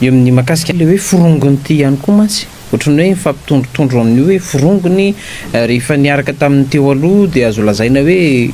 Eo amin'ny mahakasika ilay hoe forongony ity ihany koa mantsy, ohatran'ny hoe mifampitondrotondro amin'io hoe forongony rehefa niaraka tamin'ny teo aloha dia azo lazaina hoe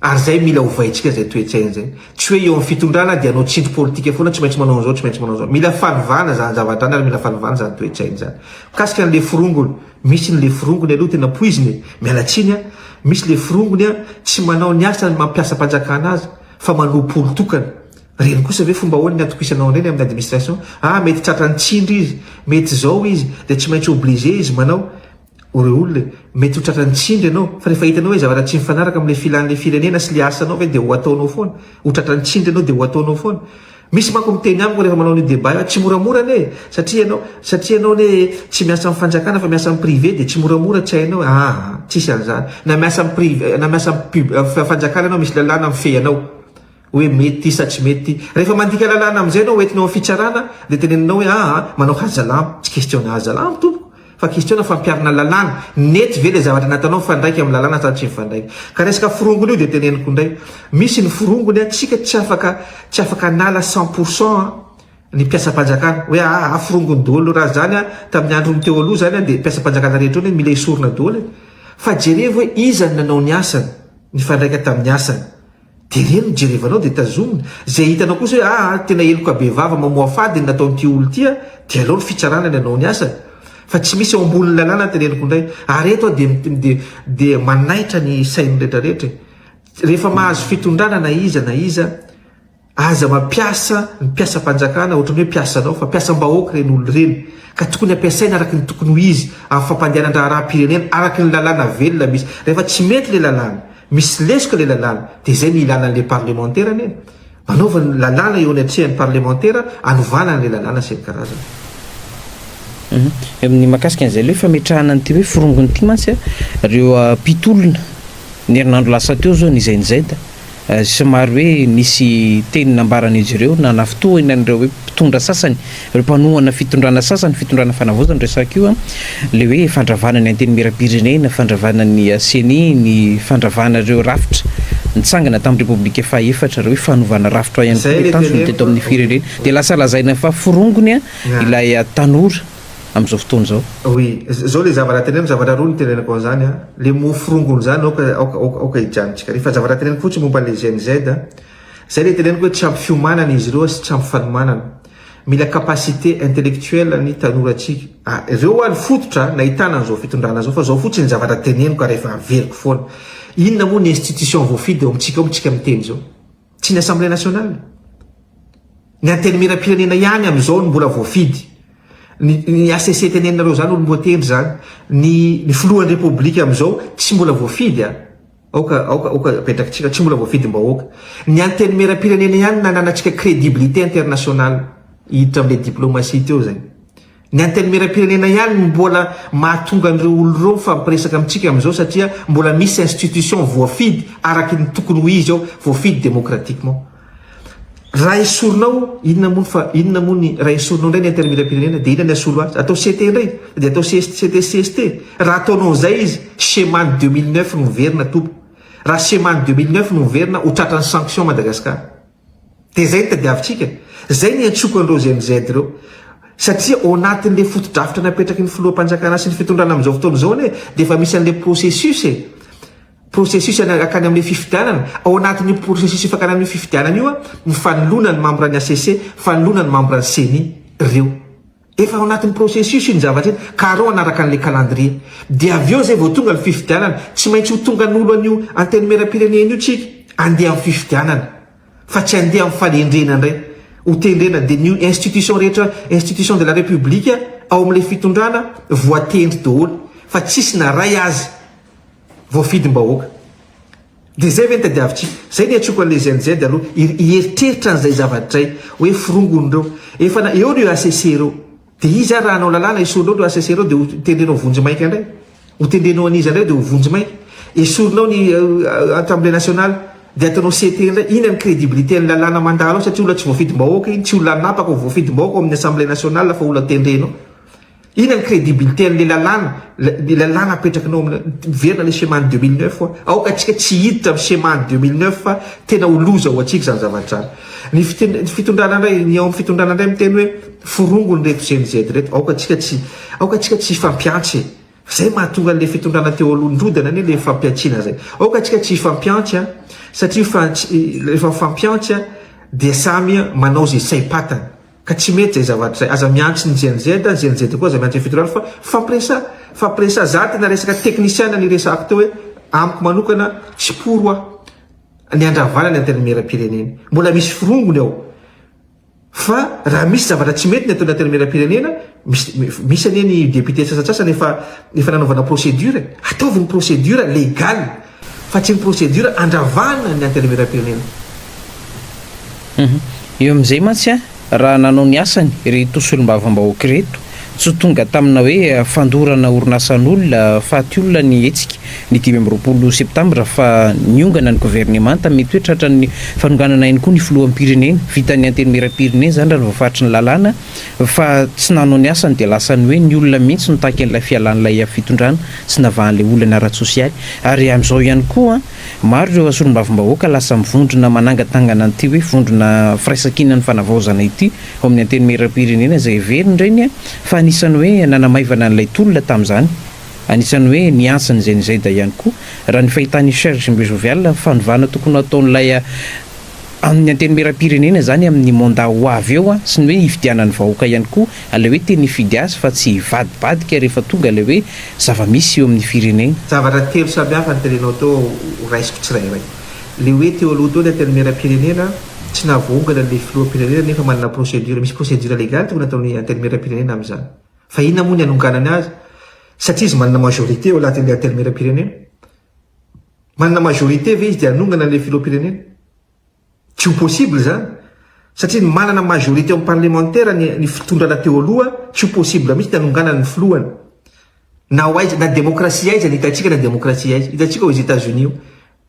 Ary izay mila ovaintsika izay toe-tsaina izay. Tsy hoe eo amin'ny fitondrana dia hanao tsindry politika foana, tsy maintsy manao an'izao, tsy maintsy manao an'izao. Mila fanovana izany zavatra izany ary mila fanovana izany toe-tsaina izany. Mikasika ny leforongony, misy ny leforongony aloha tena poizina e! Miala tsiny an! Misy leforongony an, tsy manao ny asany mampiasam-panjakana azy fa manompo olon-tokana. Ireny kosa ve fomba ahoana ny hatokisanao an'ireny amin'ny administration? Ah mety tratran'ny tsindry izy, mety izao izy, dia tsy maintsy obligé izy manao. O reo olona e! Mety ho tratran'ny tsindry ianao, fa rehefa hitanao hoe zavatra tsy mifanaraka amin'ilay filan'ilay firenena sy ilay asanao ve dia ho ataonao foana? Ho tratran'ny tsindry ianao dia ho ataonao foana? Misy manko miteny amiko rehefa manao an'io débat io, tsy moramora anie e! Satria ianao, satria ianao anie tsy miasa amin'ny fanjakana fa miasa amin'ny privé dia tsy moramora tsy hainao e! Aa! Tsisy an'izany! Na miasa amin'ny priv, na miasa amin'ny pub, fanjakana ianao misy lalàna mifehy anao. hoe mety sa tsy mety, rehefa mandika lalàna amin'izay ianao hoentina ao amin'ny fitsarana dia teneninao hoe aa manao hazalambo, tsy question hazalambo tompoko fa question fampiharana lalàna, nety ve ilay zavatra nataonao mifandraika amin'ny lalàna sa tsy mifandraika, ka resaka forongony io dia teneniko indray, misy ny forongony an, tsika tsy afaka tsy afaka hanala cent pour cent an ny mpiasam-panjakana hoe aa forongony daholo, raha izany an tamin'ny andron'ny teo aloha izany an dia mpiasam-panjakana rehetra hono mila esorina daholo e! fa jerevo hoe iza no nanao ny asany, nifandraika tamin'ny asany. Dia ireny no jerevanao dia tazomina, izay hitanao kosa hoe aa tena heloka bevava mamoafady ny nataon'ity olo ity an, dia alao ny fitsarana ny hanao ny asany, fa tsy misy eo ambonin'ny lalàna ny teneniko indray, ary eto aho dia dia manaitra ny sain'ny rehetra rehetra e! rehefa mahazo fitondrana na iza na iza aza mampiasa ny mpiasam-panjakana ohatran'ny hoe mpiasanao fa mpiasam-bahoaka ireny olo ireny ka tokony ampiasaina araka ny tokony ho izy amin'ny fampandehanan-draharaham-pirenena araka ny lalàna velona misy, rehefa tsy mety ilay lalàna. Misy lesoka ilay lalàna, dia izay no ilana an'ilay parlemantera anie. Manaova ny lalàna eo anatrehan'ny parlemantera hanovana an'ilay lalàna sy ny karazany. Ny mahakasika an'izay ilay hoe fametrahana an'ity hoe forongony ity mantsy ireo mpitolona ny herinandro lasa teo izao nizainzainta somary hoe nisy teny nambaran'izy ireo nanafintohina an'ireo hoe mpitondra sasany Ireo mpanohana fitondrana sasany, fitondrana fanavaozana no resahiko io an, ilay hoe fandravana ny antenimieram-pirenena, fandravana ny ceni, ny fandravana ireo rafitra nitsangana tamin'ny repoblika fahaefatra, ireo hoe fanovana rafitra ihany koa no tanjona teto amin'ny firenena, dia lasa lazaina fa forongony ilay tanora amin'izao fotoana izao. Oui, izao ilay zavatra teneniko, zavatra roa no teneniko an'izany an, ilay mot forongony izany aoka, aoka, aoka hijanontsika ary, fa zavatra teneniko fotsiny momba ilay GNZ an, izay ilay teneniko hoe tsy ampy fiomanana izy ireo sy tsy ampy fanomanana, Mila capacité intellectuelle ny tanora tsika a! Reo wa ny fototra nahitana an'izao fitondrana zao fa zao fotsiny zavatra teneniko ary efa averiko foana. Inona moa ny institution voafidy ao amintsika ao moa tsika miteny zao? Tsy ny assemblée nationale? Ny antenimieram-pirenena ihany amin'izao no mbola voafidy. Ny HCC teneninareo zany olom-boatendry zany, ny ny filohan'ny repoblika amin'izao tsy mbola voafidy a! Aoka, aoka, aoka apetrakitsika, tsy mbola voafidim-bahoaka. Ny Antenimieram-pirenena ihany no nananantsika crédibilité internationale. Hiditra amin'ilay diplomatie teo izay. Ny Antenimieram-pirenena ihany no mbola mahatonga an'ireo olona ireo mifampiresaka amintsika amin'izao satria mbola misy institution voafidy araka ny tokony ho izy ao, voafidy démocratiquement. Raha esorinao, inona moa ny fa, inona moa ny, raha esorinao indray ny Antenimierampirenena, dia inona ny asolo azy? Atao CT indray? Dia atao CT sy CST? Raha ataonao an'izay izy, Schema ny 2009 no miverina tompoko. Raha Schema ny 2009 no miverina, ho tratran'ny sanction Madagascar. Dia izay no tadiavintsika. Izay no iantsoako an'ireo GMZ ireo. Satria ao anatin'ilay fotodrafitra napetraky ny Filoham-panjakana sy ny fitondrana amin'izao fotoana izao anie, dia efa misy an'ilay processus e. Processus hanakana amin'ilay fifidianana, ao anatin'io processus hifankana amin'io fifidianana io ny fanoloana ny membre ny HCC, fanoloana ny membre ny ceni reo. Efa ao anatin'ny processus iny zavatra iny ka arao hanaraka an'ilay calendrier. Dia avy eo zay vao tonga ny fifidianana. Tsy maintsy ho tonga an'olo an'io antenimieram-pirenena io tsika handeha amin'ny fifidianana fa tsy handeha amin'ny fanendrena indray. Ho tendrena dia ny institution rehetra institution de la République ao amin'ilay fitondrana voatendry daholo fa tsisy na ray aza voafidim-bahoaka. Dia izay ve no tadiavintsika? Izay no iantsoako an'ilay GNZ aloha hieritreritra an'izay zavatra izay hoe forongon'ireo. Efa na eo ireo HCC ireo. Dia izy ary raha hanao lalàna esorinao ireo HCC ireo dia ho tendrenao vonjy maika indray. Ho tendrenao an'iza indray dia ho vonjy maika. Esorinao ny Assemblée nationale dia ataonao CT indray. Inona ny crédibilité an'ny lalàna mandalo ao satria olona tsy voafidim-bahoaka iny, tsy olona anapaka ho voafidim-bahoaka ao amin'ny Assemblée nationale fa olona tendrenao. Inona ny crédibilité an'ilay lalàna, ilay lalàna apetrakinao amin'ilay, miverina ilay Shema an'ny 2009 hoa, aoka antsika tsy hiditra amin'ny Shema an'ny 2009 fa tena ho loza ho antsika izany zavatra izany. Ny fiten, ny fitondrana indray, ny ao amin'ny fitondrana indray miteny hoe forongo an'ireto Gen Z ireto, aoka antsika tsy, aoka antsika tsy hifampihantsy e! Izay mahatonga an'ilay fitondrana teo aloha nirodana anie ilay fampihantsiana izay. Aoka antsika tsy hifampihantsy an, satria fa, rehefa mifampihantsy an, dia samy manao izay saim-patany. Ka tsy mety zay zavatra zay. Aza miantso ny GNZ, ny GNZ koa aza miantso ny Federal fa fampiresa, fampiresa za tena resaka technician ny resahako teo hoe amiko manokana tsy pour hoa ny handravana ny antenimieram-pirenena. Mbola misy forongony ao fa raha misy zavatra tsy mety ny ataon'ny antenimieram-pirenena misy misy anie ny député sasatsasany efa efa nanaovana procédure e. Ataovy ny procédure legal. fa tsy ny procédure andravahana ny antenimierampirenena. Io amin'izay mantsy raha nanao ny asany ireto solombavambahoaka ireto, tsy tonga tamina hoe fandorana orinasan'olona, faty olona ny hetsika ny dimy amby roapolo septambra fa niongana ny governemanta, mety hoe tratran'ny fanonganana ihany koa ny filoham-pirenena, vitan'ny antenimierampirenena izany raha ny voafaritry ny lalàna fa tsy nanao ny asany dia lasa ny hoe ny olona mihitsy no takin'ilay fialan'ilay fitondrana. tsy navahan'ilay olana ara-tsosialy. Ary amin'izao ihany koa, maro ireo solombavambahoaka lasa mivondrona manangatangana an'ity hoe vondrona firaisankinan'ny fanavaozana ity ao amin'ny Antenimierampirenena izay heveriny ireny fa anisan'ny hoe nanamaivana an'ilay tolona tamin'izany. Anisan'ny hoe niantsa ny Zenizeda ihany koa, raha ny fahitan'i Serge Mbuzovial, fanovana tokony ho ataon'ilay amin'ny antenimieram-pirenena izany amin'ny mandat ho avy eo an, sy ny hoe hifidianan'ny vahoaka ihany koa, ilay hoe tena hifidy azy fa tsy hivadibadika rehefa tonga ilay hoe zava-misy eo amin'ny firenena. Zavatra telo samy hafa ny terenao teo ho raisiko tsirairay. Ilay hoe teo aloha teo ny antenimieram-pirenena, tsy nahavoahongana ilay filoham-pirenena nefa manana procédure, misy procédure légale tokony hataon'ny antenimieram-pirenena amin'izany. Fa inona moa ny hanonganany azy? Satria izy manana majorité eo anatin'ilay antenimieram-pirenena. Manana majorité ve izy dia hanongana an'ilay filoham-pirenena? Tsy ho possible izany, satria ny manana majorité amin'ny parlemantera ny ny fitondrana teo aloha, tsy ho possible mihitsy ny hanonganany ny filohany. Na ho aiza, na demokrasia aiza ny hitantsika na demokrasia aiza. Hitantsika aux Etats-Unis io,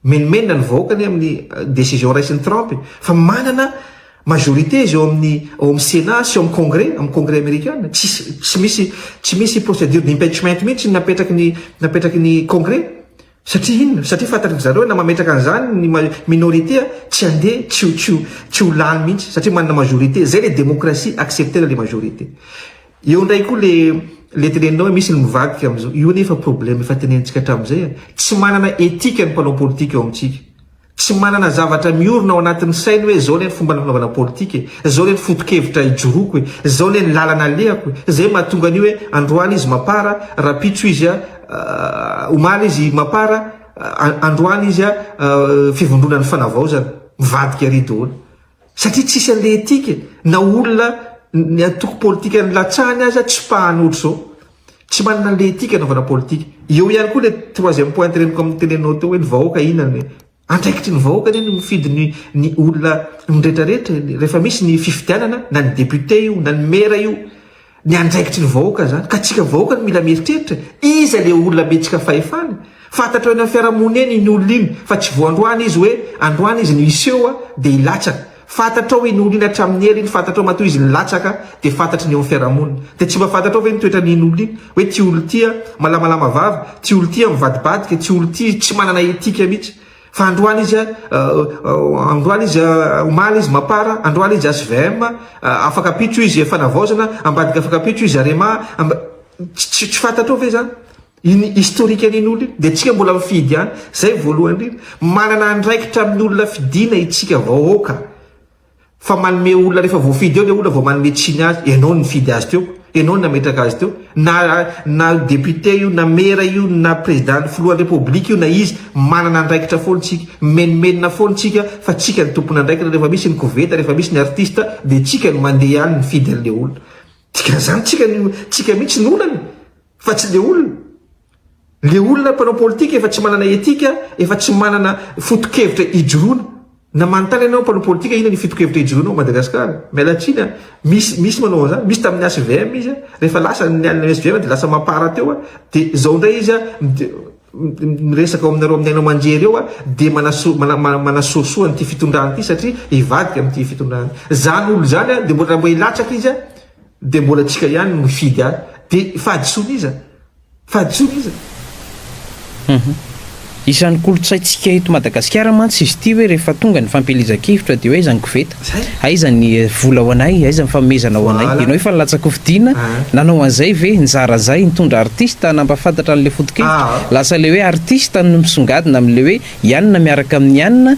menomenona ny vahoaka anie amin'ny décision raisin'i Trump e! Fa manana Majorité izy ao amin'ny ao amin'ny Sénat sy ao amin'ny Congrès, amin'ny Congrès Amerikana. Tsisy tsy misy tsy misy procédure d'impeachment mihitsy ny napetraky ny napetraky ny Congrès. Satria inona? Satria fantatry zareo na mametraka an'izany ny minorité tsy handeha tsy ho tsy ho tsy ho lany mihitsy satria manana majorité. Zay le démocratie accepter le majorité. Eo indray koa le le tenenina hoe misy ny mivadika amin'izao. Io anefa problème efa tenenitsika hatramin'izay a. Tsy manana éthique ny mpanao politika ao amintsika. Tsy manana zavatra miorina ao anatin'ny sainy hoe zao anie ny fomba nanaovana politika e, zao anie ny foto-kevitra ijoroako e, zao anie ny lalana alehako e, zay mahatonga an'io hoe androany izy mapara, rapitso izy a, omaly izy mapara, androany izy a, fivondronan'ny fanavaozana, mivadika ary daholo. Satria tsisy an'ilay éthique e, na olona ny antoko politikan'ny latsahany aza tsy mpahany ohatr'izao. Tsy manana an'le etika anaovana politika. Eo ihany koa le troisième point teneniko amin'ny tenenao teo hoe ny vahoaka inona ny andraikitry ny vahoaka anie ny mifidy ny ny olona ny rehetra rehetra rehefa misy ny fifidianana na ny député io na ny maire io ny andraikitry ny vahoaka zany ka tsika vahoaka no mila mieritreritra iza le olona metsika fahefana fantatrao eny amin'ny fiarahamonina eny iny olona iny fa tsy vao androany izy hoe androany izy no hiseho dia hilatsaka Fantatrao iny olona iny hatramin'ny ela iny, fantatrao matoa izy nilatsaka dia fantatry ny eo amin'ny fiarahamonina. Dia tsy mba fantatrao ve ny toetran'iny olona iny? Hoe ity olona ity an, malamalama vava, ity olona ity an mivadibadika, ity olona ity tsy manana éthique mihitsy. Fa androany izy an, androany izy an, omaly izy mapara, androany izy HVM, afaka ampitso izy fanavaozana, ambadika afaka ampitso izy Arema, amba, tsy fantatrao ve izany? Iny historique an'iny olona iny dia antsika mbola mifidy ihany, izay voalohany indrindra. Manana andraikitra amin'ny olona fidiana itsika vahoaka fa manome olona rehefa voafidy eo ilay olona vao manome tsiny azy, ianao no nifidy azy teo, ianao no nametraka azy teo, na na député io, na mera io, na président, filohan'ny république io, na iza, manana andraikitra foana itsika, mimenomenona foana itsika fa tsika no tompon'andraikitra rehefa misy ny koveta, rehefa misy ny artiste dia tsika no mandeha any mifidy an'ilay olona. Dikan'izany tsika no tsika mihitsy no olana e! Fa tsy le olona. Le olona mpanao politika efa tsy manana etika, efa tsy manana fotokevitra ijoroana. Na manontany ianao mpanao politika inona ny fotokevitra ijoroanao Madagascar. Miala tsiny an, misy misy manao an'izany, misy tamin'ny HVM izy an, rehefa lasa ny an'ny HVM dia lasa mampara teo an, dia izao indray izy an, miresaka ao aminareo amin'ny haino aman-jery eo dia manaso, mana, manasoasoa an'ity fitondrana ity satria hivadika amin'ity fitondrana. Izany olona izany dia mbola mba hilatsaka izy Dia mbola tsika ihany no mifidy ahy. Dia fahadisoan'iza? Fahadisoan'iza? Humm. Isan'ny kolontsaintsika eto Madagasikara mantsy izy ity hoe rehefa tonga ny fampielezan-kevitra dia hoe aiza ny koveta? Aiza ny vola ho anay? Aiza ny fanomezana ho anay? Ianao efa nilatsa-kofidiana, nanao an'izay ve? Nizara izay, nitondra artista nampahafantatra an'ilay foto-kevitra. Lasa ilay hoe artista no misongadina amin'ilay hoe i anona miaraka amin'i anona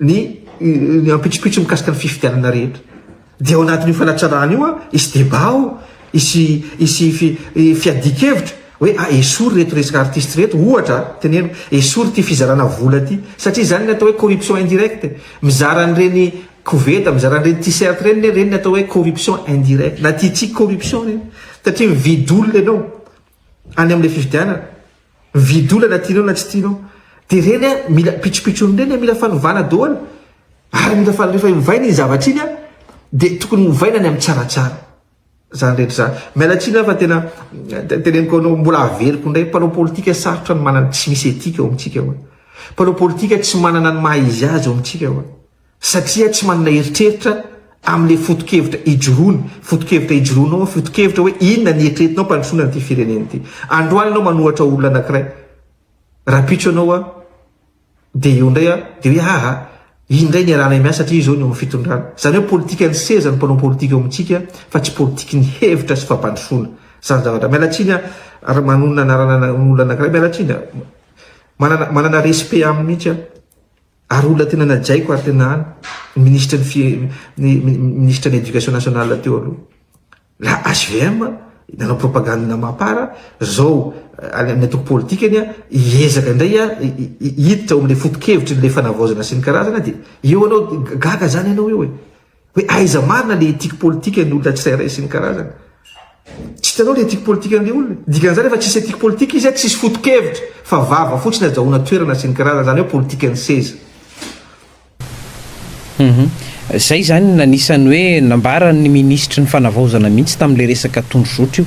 ny ny ampitsopitso mikasika ny fifidianana rehetra dia ao anatin'io fanatsarana io an hisy deba ao hisy hisy fiadian-kevitra hoe a ah, esory reto resaka artiste reto ohatra teneno esory ity fizarana vola ity satria izany ny atao hoe corruption indirecte mizara an'ireny koveta mizara an'ireny t-shirt ireny ne ireny ny atao hoe corruption indirecte na tia tsy corruption ireny satria mividy olona ianao any amin'ilay fifidianana Mividy olona na tianao na tsy tianao. Dia ireny a, mila pitsopitsony ireny a, mila fanovana daholo. Ary mila fa rehefa ovaina iny zavatra iny a, dia tokony ovaina ny amin'ny tsaratsara. Izany rehetra izany. Miala tsiny aho fa tena teneniko anao, mbola averiko indray, mpanao politika sarotra ny manana, tsy misy éthique ao amintsika ao. Mpanao politika tsy manana ny maha izy azy ao amintsika ao. satria tsy manana eritreritra amin'ilay foto-kevitra ijoroany, foto-kevitra ijoroanao, foto-kevitra hoe inona ny eritreretinao ampandrosoana an'ity firenena ity. Androany ianao manohatra olona anankiray, rapitso ianao an, dia eo indray an, dia hoe aa, iny indray niarahanay miasa satria izao ny eo amin'ny fitondrana. Izany hoe politikan'ny seza ny mpanao politika eo amintsika fa tsy politikin'ny hevitra sy fampandrosoana. Izany ny zavatra. Miala tsiny an, ary manonona anarana olona anankiray, miala tsiny an, manana, manana respect aminy mihitsy aho. Ary olona tena najaiko ary tena any ny ministra ny fi ny ministra ny éducation nationale teo aloha. La HVM nanao propagande na mapara zao any amin'ny antoko politikany hiezaka indray hiditra ao amin'ilay foto-kevitry ilay fanavaozana sy ny karazana dia eo anao gaga zany ianao eo e. hoe aiza marina le ethique politika ny olona tsirairay sy ny karazany tsy hitanao le ethique politika an'le olona dikan'izany efa tsisy ethique politika izy a tsisy foto-kevitra fa vava fotsiny ajahoana toerana sy ny karazany zany hoe politika ny seza mhm. zay zany nanisany hoe nambaran'ny minisitry ny fanavaozana mihitsy tamin'le resaka tondrozotra io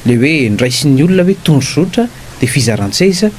le hoe ndraisin'ny olona hoe tondrozotra de fizaran-tseza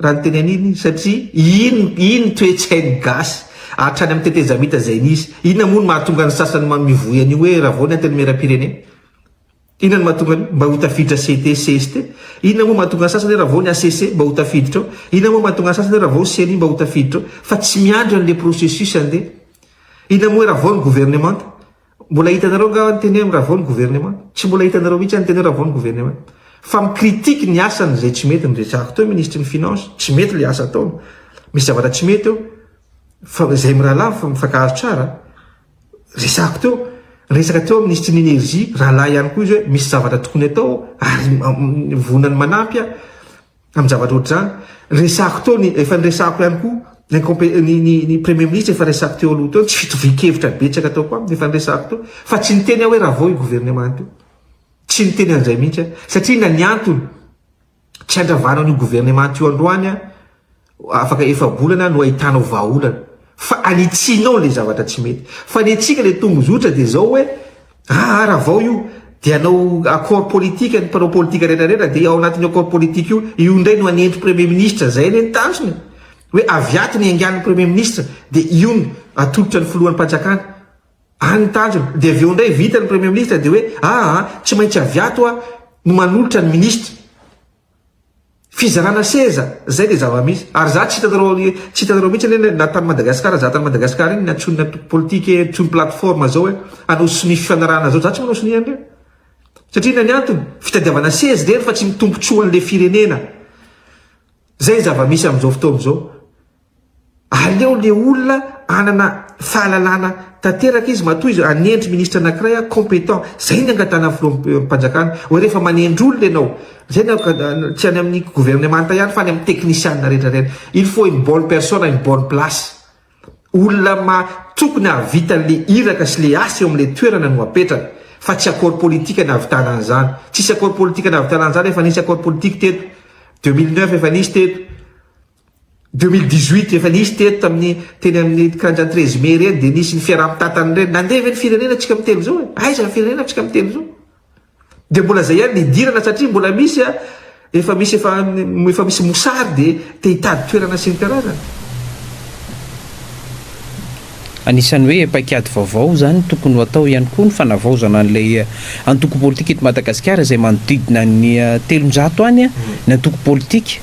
Raha ny teny an'iny izy satria iny iny toe-tsain'ny gasy hatrany amin'ny tetezamita izay nisy. Inona moa no mahatonga ny sasany mamivoy an'io hoe Ravao ny Antenimierampirenena? Inona no mahatonga an'io? Mba ho tafiditra CT, cst? Inona moa mahatonga ny sasany hoe Ravao ny HCC? Mba ho tafiditra ao? Inona moa mahatonga ny sasany hoe Ravao ceni? Mba ho tafiditra ao? Fa tsy miandry an'ilay processus andeha. Inona moa hoe Ravao ny governemanta? Mbola hitanareo angaha ny teny hoe miravao ny gouvernement? Tsy mbola hitanareo mihitsy any ny teny hoe ravao ny gouvernement. Fa mi critique ny asany izay tsy mety nirezahako teo ministry ny finances, tsy mety ilay asa ataony, misy zavatra tsy mety eo, fa izay mirahalahy fa mifankahazo tsara, resahako teo, resaka teo ministry ny energie, rahalahy ihany koa izy hoe misy zavatra tokony atao ary vonona ny manampy aho, amin'ny zavatra ohatr'izany, resahako teo ny, efa niresahako ihany koa, ny, ny, ny premier ministre efa resahako teo aloha teo, tsy fitovian-kevitra betsaka ataoko aminy, efa niresahako teo, fa tsy niteny aho hoe raha vao io gouvernement io, tsy niteny an'izay mihitsy aho, satria inona ny antony, tsy handravana an'io gouvernement io androany aho, afaka efa-bolana no ahitanao vahaolana fa anitsianao ilay zavatra tsy mety fa ny antsika ilay tongozotra dia izao hoe aa ravao io dia anao accord politique ny mpanao politika rehetra rehetra dia ao anatin'ny accord politique io io indray no anenty premier ministre izay anie ny tanjony hoe avy ato ny aingan'ny premier ministre dia io no atolotra ny filohan'ny panjakana any ny tanjony dia avy eo indray vita ny premier ministre dia hoe aa tsy maintsy avy ato a no manolotra ny ministre Fizarana seza, zay le zava-misy. Ary za tsy hitanareo tsy hitanareo mihitsy anie na tany Madagascar za tany Madagascar iny nantsoin'ny antoko politique hoe ntsony plateforme zao hoe hanao sonia fifanarahana zao za tsy manao sonia an'ireny. Satria inona ny antony? Fitadiavana seza irery fa tsy ny tombotsoan'le firenena. Zay zava-misy amzao fotoana zao. Aleo le olona anana fahalalana tanteraka izy matoa izy hanendry ministra anakiray a competent zay ny angatahana filoham panjakana oe refa manendry olona enao zay ny tsy any aminy gouvernemanta ihany fa any aminy teknisiana rehetra reny il faut une bonne personne une bonne place olona ma tokony hahavita le iraka sy le asa eo amle toerana no apetrany fa tsy accord politique ny ahavitana anzany tsisy accord politique ny ahavitana anzany efa nisy accord politique teto 2009 efa nisy teto Deux mille dix huit efa nisy teto tamin'ny teny amin'ny kanjan treize mai ireny dia nisy ny fiaraha mitatana ireny nandeha ve ny firenena antsika amin'ny telo zao e aiza ny firenena antsika amin'ny telo zao dia mbola zay ihany ny hidirana satria mbola misy a efa misy efa efa misy mosary dia te hitady toerana sy ny karazany Anisan'ny hoe paikady vaovao izany tokony ho atao ihany koa ny fanavaozana an'ilay eh, antoko politika eto Madagasikara izay manodidina ny eh, telonjato any eh, ny antoko politika.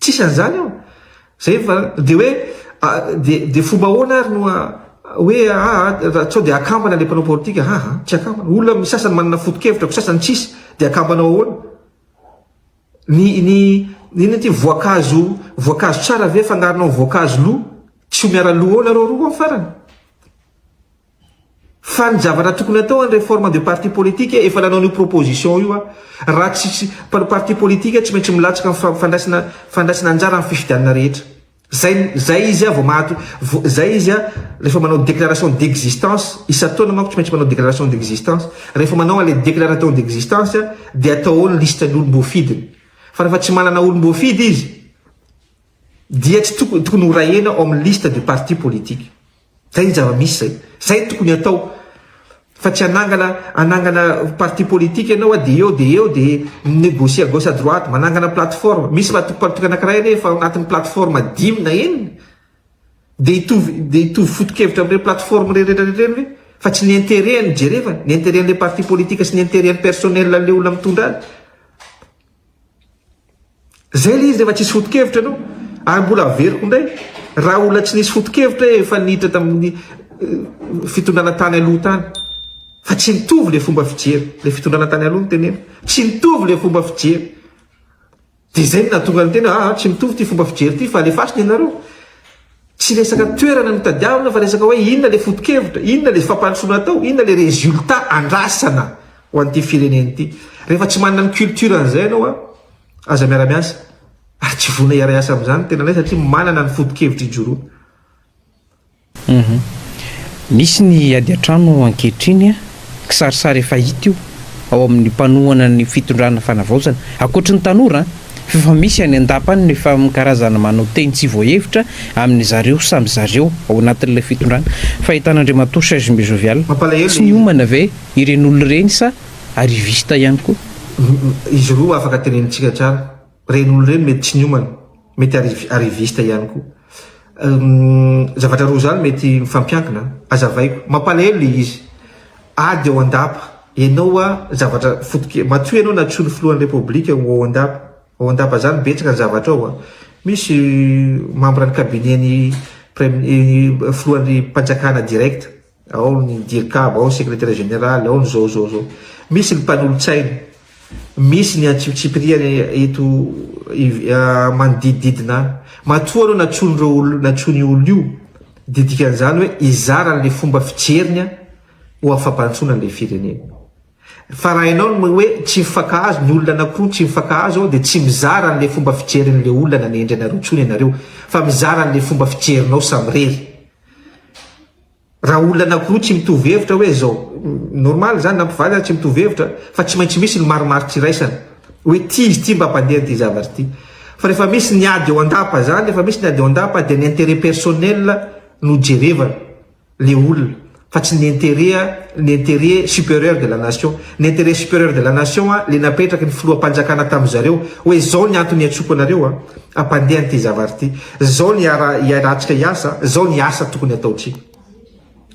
Tsisy an'izany ao. Zay fa dia hoe dia dia fomba ahoana ary no hoe aa sao dia akambana ilay mpanao politika haa tsy akambana olona misy sasany manana foto-kevitra ko sasany tsisy dia akambana ao ahoana ny ny inona ity voankazo voankazo tsara ve fangaronao voankazo lo tsy ho miara lo ao nareo roa ao farany Fa ny zavatra tokony atao any reforme de parti politique efa nanao an'io proposition io aho. Raha tsy tsy mpanao parti politique tsy maintsy milatsaka ny fa fandraisana fandraisana anjara amin'ny fifidianana rehetra. Zay zay izy aho vao mahato vo zay izy aho rehefa manao déclaration d'existence isan-taona manko tsy maintsy manao déclaration d'existence. Rehefa manao an'ilay déclaration d'existence aho dia atao ao ny liste ny olom-boafidiny. Fa rehefa tsy manana olom-boafidy izy dia tsy toko tokony ho raena ao amin'ny liste de parti politique. Zay ny zava-misy zay. Zay ny tokony atao. Fa tsy hanangana hanangana parti politique ianao dia eo dia eo dia mi-negocier à gauche à droite, manangana plateforme. Misy matoa-panotokana anankiray anie efa ao anatin'ny plateforme dimy na enina. Dia hitovy dia hitovy foto-kevitra amin'ireny plateforme rehetra ireny ve? Fa tsy ny intérêt no jerevana, ny intérêt an'ilay parti politique sy ny intérêt an'ny personnel an'ilay olona mitondra azy. Zay ilay izy rehefa tsisy foto-kevitra ianao ary mbola averiko indray raha olona tsy nisy foto-kevitra efa niditra tamin'ny fitondrana tany aloha tany fa tsy mitovy ilay fomba fijery ilay fitondrana tany aloha ny tenena tsy mitovy ilay fomba fijery dia izay no nahatonga ny tena ah tsy mitovy ity fomba fijery ity fa alefasina ianareo Tsy resaka toerana no itadiavina fa resaka hoe inona ilay foto-kevitra, inona ilay fampandrosoana atao, inona ilay résultat andrasana ho an'ity firenena ity. Rehefa tsy manana ny culture an'izay ianao an, aza miara-miasa ary tsy vonona hiara-hiasa amin'izany ny tenanay satria manana ny foto-kevitra ijoroana. Misy ny ady an-trano ankehitriny. Kisarisary efa hita io ao amin'ny mpanohana ny fitondrana fanavaozana. Ankoatry ny tanora f'efa misy any an-dapa any ny famin-karazana manao teny tsy voahevitra amin'ny zareo samy zareo ao anatin'ilay fitondrana. Fahitan'Andriamatoa Serge Mbezovial. Tsy miomana ve ireny olona ireny sa arriviste ihany koa? Izy roa afaka tenenintsika tsara. Ireny olona ireny mety tsy niomana. Mety arrivi, arriviste ihany koa. Umm zavatra roa zany mety mifampiankina an! Azavaiko. Mampalahelo le izy. Ady ao an-dapa. Enao hoa zavatra fotoke, matoa ianao natosoa ny filohan'ny repoblika ho ao an-dapa. Ao an-dapa zany betsaka ny zavatra ao an! Misy membre ny cabinet-n'ny prem, filohan'ny panjakana direct. ao ny dircab, ao ny secretaire général, ao ny zao zao zao, misy ny mpanolotsaina, misy ny antsipitsipiriany eto manodidididina any, matoa aloha natsoin'ireo olona, natsoin'io olona io dia dikan'izany hoe hizara an'ilay fomba fijeriny ho afa-bantsoana an'ilay firenena, fa raha ianao no hoe tsy mifankahazo ny olona anankiroa tsy mifankahazo ao dia tsy mizara an'ilay fomba fijerin'ilay olona nanendry anareo intsony ianareo fa mizara an'ilay fomba fijerinao samirery. Raha olona anakiroa tsy mitovy hevitra hoe izao, normal izany na mpivady aza tsy mitovy hevitra fa tsy maintsy misy ny marimaritra iraisana hoe ity izy ity mba mpandeha an'ity zavatra ity. Fa rehefa misy ny ady eo an-dapa izany, rehefa misy ny ady eo an-dapa dia ny intérêt personnel no jerevana le olona fa tsy ny intérêt ny intérêt supérieur de la nation. Ny intérêt supérieur de la nation le napetraky ny filoham-panjakana tamin'ny zareo hoe izao ny antony iantsoako anareo a! Hampandeha an'ity zavatra ity. Izao ny iarahantsika hiasa, izao ny asa tokony hataontsika.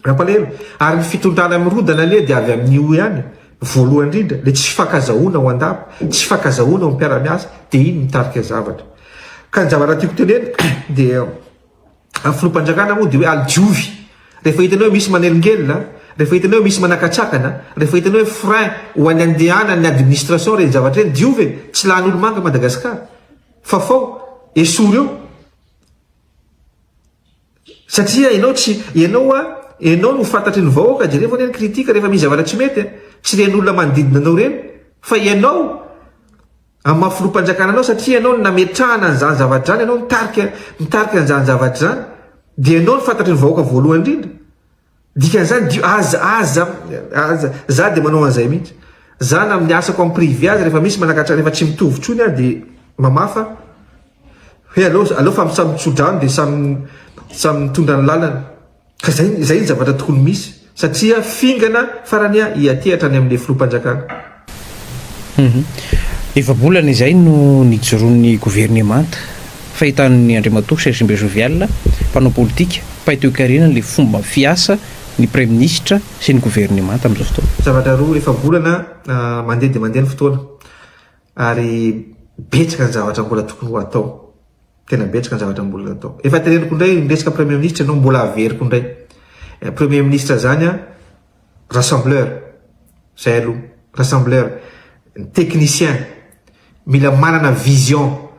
Mampalahelo. Ary ny fitondrana mirodana anie dia avy amin'io ihany. Voalohany indrindra, ilay tsy fifankazahoana ao an-dapa, tsy fifankazahoana ao amin'ny mpiara-miasa, dia iny mitarika zavatra. Ka ny zavatra tiako tenenina dia. Ny filoham-panjakana moa dia hoe alijovy. Rehefa hitanao hoe misy manelingelina, rehefa hitanao hoe misy manakatsakana, rehefa hitanao hoe frein ho an'ny andehanan'ny administration ireny zavatra ireny, diovy e! Tsy lany olo-manga i Madagasikara. Fafao, esory eo. Satria ianao tsy, ianao a, ianao no fantatry ny vahoaka, jereo anie ny critique rehefa misy zavatra tsy mety a! Tsy ren'olona manodidina anao ireny fa ianao Amin'ny maha filoham-panjakana anao satria ianao no nametrahana an'izany zavatra izany, ianao no mitarika mitarika an'izany zavatra izany dia ianao no fantatry ny vahoaka voalohany indrindra. Dikan'izany dio aza aza aza za dia manao an'izay mihitsy. Za na amin'ny asako amin'ny privé aza rehefa misy manakatra rehefa tsy mitovy intsony aho dia mamafa hoe aleo aleo fa samy mitsodrano dia samy samy mitondra ny lalany. Ka zay zay ny zavatra tokony misy satria fingana farany a hiatehatra any amle filoham-panjakana. Humm. Efa-bolana izay no nijoroan'ny governemanta. Fahitan'ny Andriamatoa Sergimbe Jovial, mpanao politika, mpahay toekarena ilay fomba fiasa ny Praiminisitra sy ny governemanta amin'izao fotoana. Zavatra roa, efa-bolana mandeha dia mandeha ny fotoana. Ary betsaka ny zavatra mbola tokony ho atao. Tena betsaka ny zavatra mbola atao. Efa tereniko indray ny resaka Premier Ministra ianao mbola averiko indray. Eh, Premier Ministra zany a, rassembleur. Zay aloha, rassembleur. Ny technicien, mila manana vision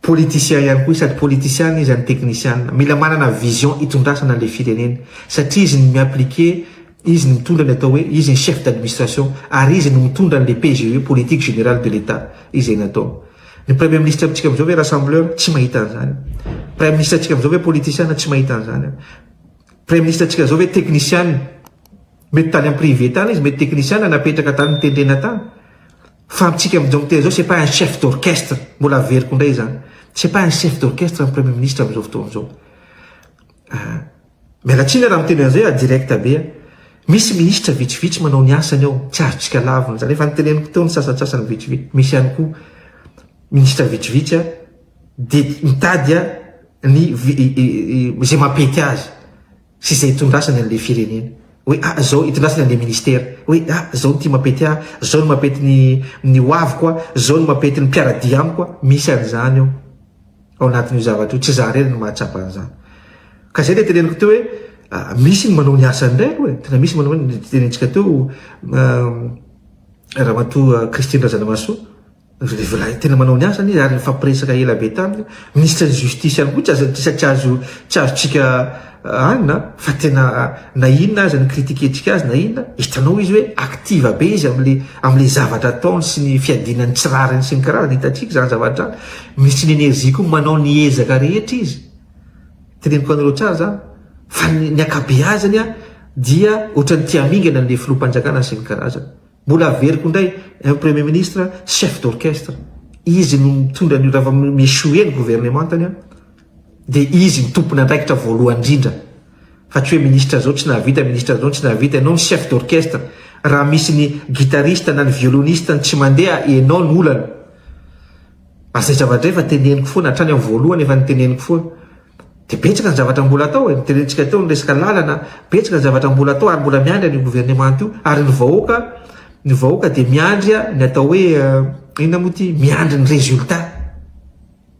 Politicien ihany koa izy sady politician izy any teknisiana. Mila manana vision hitondrasana ilay firenena satria izy no mi-appliquer, izy no mitondra ny atao hoe izy ny chef d'administration ary izy no mitondra an'ilay PGE, politique générale de l'Etat, izay natao. Ny Premier Ministre amintsika amin'izao ve rassembleur? Tsy mahita an'izany. Prime Ministre antsika amin'izao ve politician? Tsy mahita an'izany. Prime Ministre antsika izao ve teknisiana? Mety tany amin'ny privé tany izy, mety teknisiana napetraka tany nitendrena tany. Fa amintsika amin'izao fotoana izao, c'est pas un chef d'orchestre, mbola averiko indray izany, c'est pas un chef d'orchestre ny Premier Ministre amin'izao fotoana izao. Ah, miala tsiny aho raha miteny an'izay aho direct be an. Misy ministra vitsivitsy manao ny asany ao, tsy azontsika lavina izany, efa noteneniko teo ny sasantsasany vitsivitsy, misy ihany koa ministra vitsivitsy an, dia mitady an, ny izay mampety azy. sy izay itondrasany an'ilay firenena hoe ah zao itondrasany an'ilay ministera hoe ah zao ny ty mapety ahy zao ny mapety ny ny hoaviko ah zao ny mapety ny mpiaradia amiko ah misy an'izany eo ao anatin'io zavatra io tsy za rery ny mahatsapa an'izany ka zay le teneniko teo hoe misy ny manao ny asany indray aloha e tena misy manao ny tenentsika teo ramatoa Christine Razanamahasoa Vilavilahy tena manao ny asany izy ary nifampiresaka ela be taminy ministre ny justice ihany koa tsy azo tsy tsy azo tsy azontsika anona fa tena na inona aza ny critique ntsika azy na inona hitanao izy hoe active be izy amle amle zavatra ataony sy ny fiadiana ny tsy rariny sy ny karazana hitantsika izany zavatra ministry ny energie koa manao ny ezaka rehetra izy teneniko anareo tsara zany fa ny ny akabeazany dia ohatran'ny tiamingana ny filoham-panjakana sy ny karazana Mbola averiko indray, un premier ministre chef d'orchestre, izy no mitondra an'io rehefa mi-echouer ny gouvernemantany an, dia izy no tompon'andraikitra voalohany indrindra, fa tsy hoe ministre izao tsy nahavita, ministre izao tsy nahavita, ianao no chef d'orchestre, raha misy ny guitariste na ny violoniste-ny tsy mandeha, ianao no olana. Ary izay zava-drehefa teneniko foana, hatrany amin'ny voalohany efa noteneniko foana. Dia betsaka ny zavatra mbola atao e, notenenintsika teo ny resaka lalana, betsaka ny zavatra mbola atao ary mbola miandry an'io gouvernement io ary ny vahoaka, ny vahoaka dia miandry ny atao hoe inona moa ity, miandry ny résultat.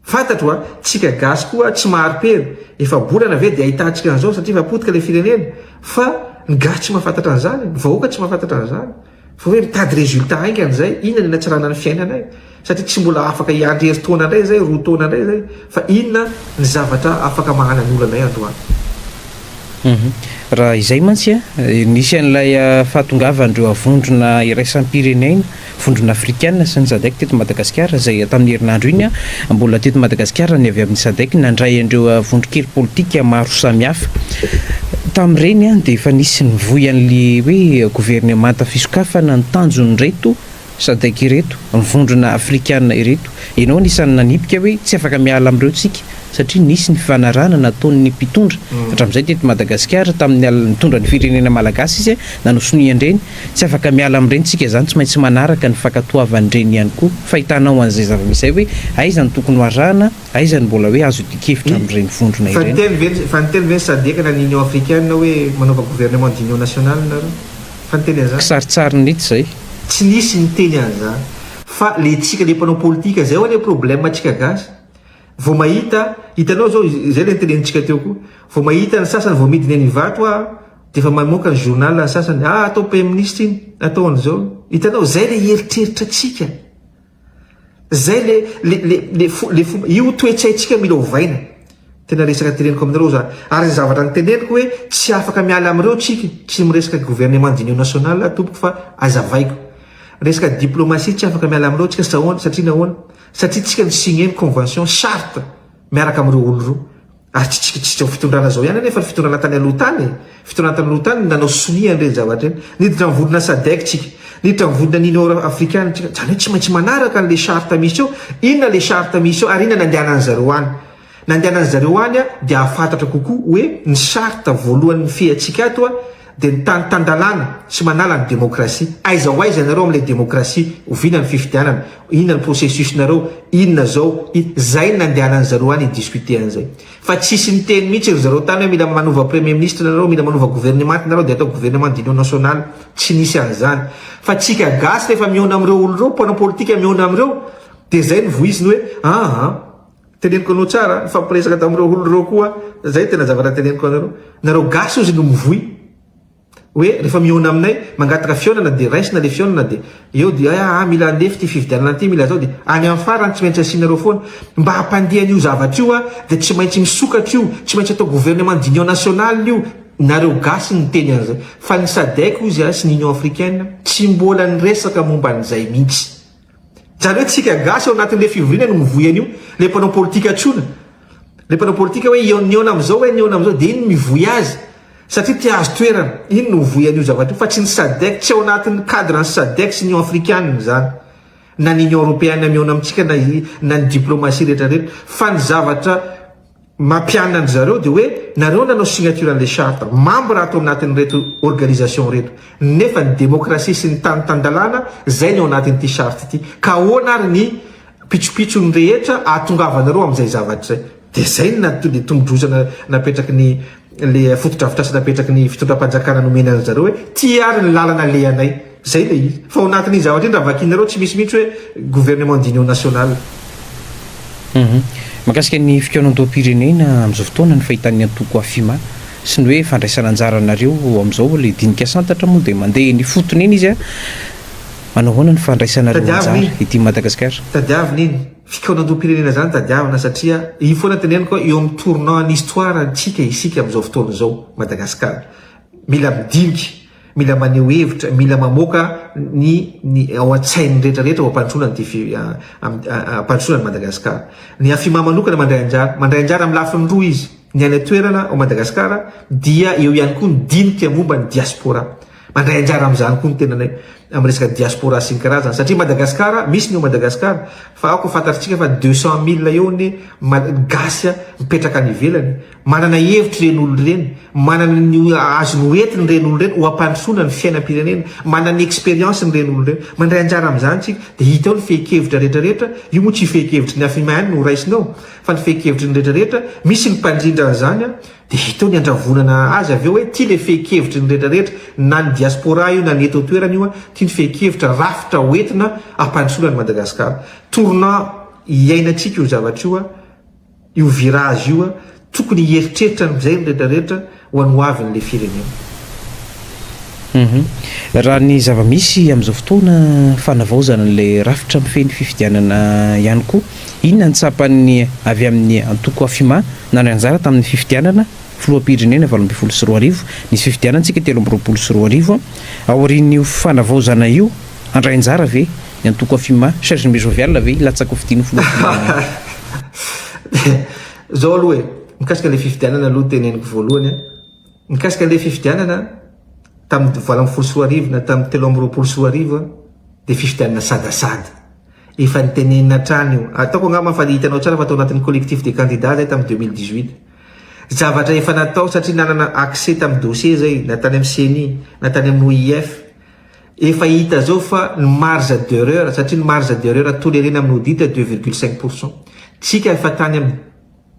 Fantatro a, tsika gasy koa tsy mahari-pery, efa-bolana ve dia ahitantsika an'izao satria efa potika ilay firenena, fa ny gasy tsy mahafantatra an'izany e, ny vahoaka tsy mahafantatra an'izany. Fa hoe mitady résultat haingana izay, inona ny hanatsarana ny fiainanay? Satria tsy mbola afaka hiandry herintaona indray izay, roa taona indray izay, fa inona ny zavatra afaka mahanan'olana anay androany? Raha izay mantsy, nisy an'ilay fahatongavan'ireo vondrona iraisam-pirenena, vondrona afrikana sy ny Sadec teto Madagasikara izay tamin'ny herinandro iny, Mbola teto Madagasikara ny avy amin'ny Sadec nandray an'ireo vondron-kely politika maro samihafa. Tamin'ireny dia efa nisy nivoy an'ilay hoe governemanta fisokafana ny tanjon'ireto Sadec ireto, ny vondrona afrikana ireto. Ianao anisan'ny nanipika hoe tsy afaka miala amin'ireo tsika satria nisy ny fifanarahana nataon'ny mpitondra hatramin'izay teto Madagasikara tamin'ny alina nitondra ny firenena malagasy izy nanosonia an'ireny Tsy afaka miala amin'ireny tsika izany, tsy maintsy manaraka ny fankatoavan'ireny ihany koa. Fahitanao an'izay zava-misy izay hoe aiza no tokony ho arahana, aiza no mbola hoe azo idian-kevitra amin'ireny vondrona ireny? Fa niteny ve ny Sadc na ny Union africaine hoe manaova gouvernement d'union nationale nareo? Fa niteny an'izany? Kisarisary minitra izay. Tsy nisy niteny an'izany. Fa ilay tsika ilay mpanao politika, izay ho'a ilay problème antsika gasy. Vao mahita, hitanao izao, izay ilay nitenenitsika teo koa, vao mahita ny sasany vao midina eny Ivato ho'a Dia efa mamoaka ny journal ny sasany, ah atao PM-ministra iny, atao an'izao. Hitanao, izay ilay eritreritra antsika. Izay le, le, le, le, le, io toe-tsaintsika mila ovaina. Tena resaka teneniko aminareo za. Ary ny zavatra niteneniko hoe tsy afaka miala amin'ireo tsika, tsy miresaka gouvernement d'union nationale aho tompoko fa azavaiko. Resaka diplomatie tsy afaka miala amin'ireo tsika satria nahoana? Satria tsika mi-signer ny convention, charte, miaraka amin'ireo olo roa. Ary tsy tsikitsikitrao fitondrana zao ihany anefa ny fitondrana tany aloha tany e! Fitondrana tany aloha tany no nanao sonia an'ireny zavatra ireny. Niditra ny vondrona sadec tsika. Niditra ny vondrona ny union euro africaine tsika. Zany hoe tsy maintsy manaraka an'le charte misy eo. Inona le charte misy eo ary inona nandehanan'ny zareo any. Nandehanan'ny zareo any dia hahafantatra kokoa hoe ny charte voalohan'ny nifehy antsika ato Dia ny tany tan-dalàna tsy manala ny demokrasia. Aiza ho aiza ianareo amin'ilay demokrasia? Oviana ny fifidianana? Inona ny processus-nareo? Inona izao? Inona? Zay no nandehanan'ny zareo any hi-discuter an'izay. Fa tsisy niteny mihitsy ry zareo tany hoe mila manova premier ministre nareo, mila manova gouvernement nareo dia atao gouvernement d'union nationale. Tsy nisy an'izany. Fa tsika gasy rehefa mihaona amin'ireo olona ireo, mpanao politika mihaona amin'ireo, dia zay no voiziny hoe, aa. Teneniko anao tsara a, nifampiresaka tamin'ireo olona ireo koa aho, izay tena zavatra teneniko anareo, nareo gasy ozy no mivoy hoe rehefa mihaona aminay, mangataka fihaonana dia raisina ilay fihaonana dia eo dia ah ah mila handefy ity fifidianana ity, mila zao dia any amin'ny farany tsy maintsy asianareo foana, mba hampandeha an'io zavatra io aho dia tsy maintsy misokatra io, tsy maintsy atao gouvernement d'union nationale io, nareo gasy no miteny an'izay, fa ny sadec ozy a sy ny union africaine tsy mbola niresaka momba an'izay mihitsy. Zany hoe tsika gasy ao anatin le fivoriana no mivoy anio, le mpanao politika tsona, le mpanao politika hoe ihaona ihaona amizao hoe nihaona amizao de iny no mivoy azy satria te ahazo toerana, iny no mivoy anio zavatra io fa tsy ny sadec, tsy ao anatin cadre ny sadec sy ny union africanina zany na ny union europeana mihaona amitsika na ny diplomatie retraretra fa ny zavatra mampianina an-dry zareo dia hoe nareo nanao signature an'ilay charte, membre ato anatin'ireto organisation ireto, nefa ny démocratie sy ny tany tan-dalàna izay ny ao anatin'ity charte ity, ka ahoana ary ny pitsopitsony rehetra ahatongavanareo amin'izay zavatra izay? Dia izay no nat, ilay tombondrozana napetraky ny. le fotodrafitrasa napetraky ny fitondram-panjakana nomena an-dry zareo hoe ty ary ny lalana alehanay, zay le izy, fa ao anatin'iny zavatra iny raha vakinareo tsy misy mihitsy hoe gouvernement d'union nationale. Mahakasika ny fikaonandoham-pirenena amin'izao fotoana ny fahitan'ny antoko Afima sy ny hoe fandraisana anjaranareo amin'izao ilay dinika santatra moa dia mandeha eny ifotony eny izy a! Manao ahoana ny fandraisanareo anjara ety Madagasikara? Tadiavina iny. Fikaonandoham-pirenena izany tadiavina satria io foana teneniko eo amin'ny tournant ny histoire antsika isika amin'izao fotoana izao Madagascar mila midinika mila maneho hevitra mila mamoaka ny ny ao an-tsain'ny rehetra rehetra ho ampandrosoana ny ity ampandrosoana ny Madagascar ny afima manokana mandray anjara mandray anjara amin'ny lafiny roa izy ny any an-toerana ao Madagascar dia eo ihany koa ny dinika momba ny diaspora Mandray anjara amin'izany koa ny tenanay amin'ny resaka diaspora sy ny karazany satria Madagasikara, misy ny ao Madagasikara fa aoka fantatritsika fa deux cent mille eo ny gasy mipetraka any ivelany. Manana hevitra ireny olona ireny, manana ny azony ho entiny ireny olona ireny, ho ampandrosoana ny fiainam-pirenena, manana ny expérience ny ireny olona ireny. Mandray anjara amin'izany tsika dia hita eo ny fehin-kevitra rehetra rehetra, io moa tsy fehin-kevitry ny Afima ihany no ho raisina eo fa ny fehin-kevitry ny rehetra rehetra, misy ny mpandrindra an'izany. Dia hita eo ny handravonana azy avy eo hoe tia ilay fehin-kevitry ny rehetrarehetra, na ny diaspora io na ny eto an-toerana io, tia ny fehin-kevitra, rafitra hoentina hampandrosoana an'i Madagasikara. Tournant iainantsika io zavatra io, io virage io, tokony hieritreritra an'izay ny rehetrarehetra ho an'ny hoavin'ilay firenena. Raha ny zava-misy amin'izao fotoana fanavaozana an'ilay rafitra mifehy ny fifidianana ihany koa, inona ny tsapan'ny avy amin'ny antoko Afima nandray anjara tamin'ny fifidianana filoham-pirenena valo ambin'ny folo sy roa arivo? Nisy fifidianantsika telo amby roapolo sy roa arivo, aorian'io fanavaozana io, handray anjara ve ny antoko Afima? Serge Mbe Jovial ve hilatsaka ho fidian'ny filoham-pirenena? Izao aloha e, mikasika ilay fifidianana aloha teneniko voalohany an! Mikasika ilay fifidianana tamin'ny valo ambin'ny folo sy roa arivo na tamin'ny telo amby roapolo sy roa arivo dia fifidianana sadasada. Efa nitenenina hatrany io. Ataoko angamba fa hitanao tsara fa tao anatin'ny collectif des candidats izay tamin'ny deux mille dix huit. Zavatra efa natao satria nanana accès tamin'ny dossier izay na tany amin'ny ceni na tany amin'ny OIF. Efa hita izao fa ny marge d'erreur satria ny marge d'erreur tolerena amin'ny audit deux virgule cinq pour cent. Tsika efa tany amin'ny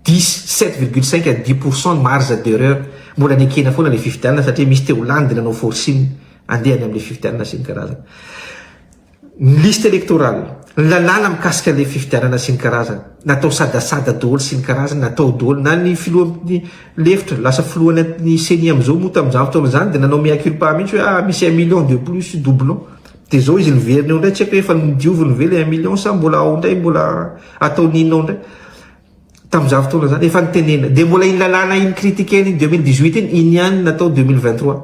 Diso, sept virgule cinq à dix pour cent ny marge d'erreur, mbola nekena foana ilay fifidianana satria misy teo lany dia nanao forcing andeha any amin'ilay fifidianana sy ny karazany. Ny liste électorale, ny lalàna mikasika ilay fifidianana sy ny karazany, natao sadasada daholo sy ny karazany, natao daholo, na ny filohan'ny lefitra, lasa filohan'ny ceni amin'izao moa tamin'izany fotoana izany dia nanao mea culpa mihitsy hoe ah misy un million de plus, doublon, dia izao izy niverina eo indray, tsy haiko hoe efa nodioviny ve ilay un million sa mbola ao indray, mbola ataony inona ao indray. tamin'izany fotoana izany, efa nitenenina. Dia mbola iny lalàna iny critiquer-ny iny 2018 iny, iny ihany no natao 2023.